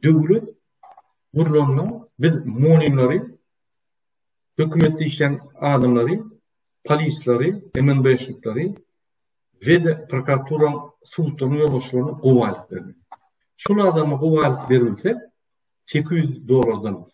Döwlet gurlanda biz monimleri, hökümetde işleýän adamlary, polisleri, MNB-şnikleri we de prokuratura sudlaryň ýolbaşçylaryny gowy aýdyp berdi. Şol adamy gowy aýdyp berilse, 800 dollardan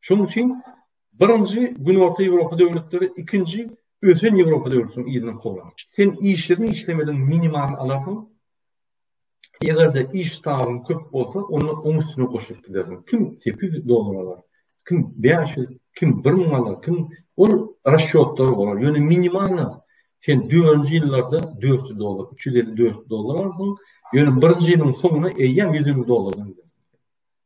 Şonuň üçin birinji Günorta Ýewropa döwletleri, ikinji ösen Ýewropa döwletleriniň yzyna kowlan. Sen işlediň, işlemediň minimal alarsyň. Eger-de iş stažyň köp bolsa, onda oň üstüne goşulyp gidersiň. Kim 800 dollar alar, kim 500, kim 1000 alar, kim ol rasçotlar bolar. Ýöne minimalna sen 4-nji ýyllarda 400 dollar, 350-400 dollar alarsyň. Ýöne birinji ýylyň soňuna eýýäm 100 dollardan gidersiň.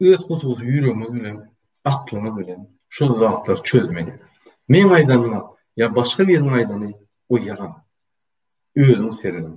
öz hususy ýüregimiz bilen, aklymyz bilen şol zatlary çözmeli. Meň aýdanyma ýa başga biriniň aýdany goýaram. Özüňiz seredin.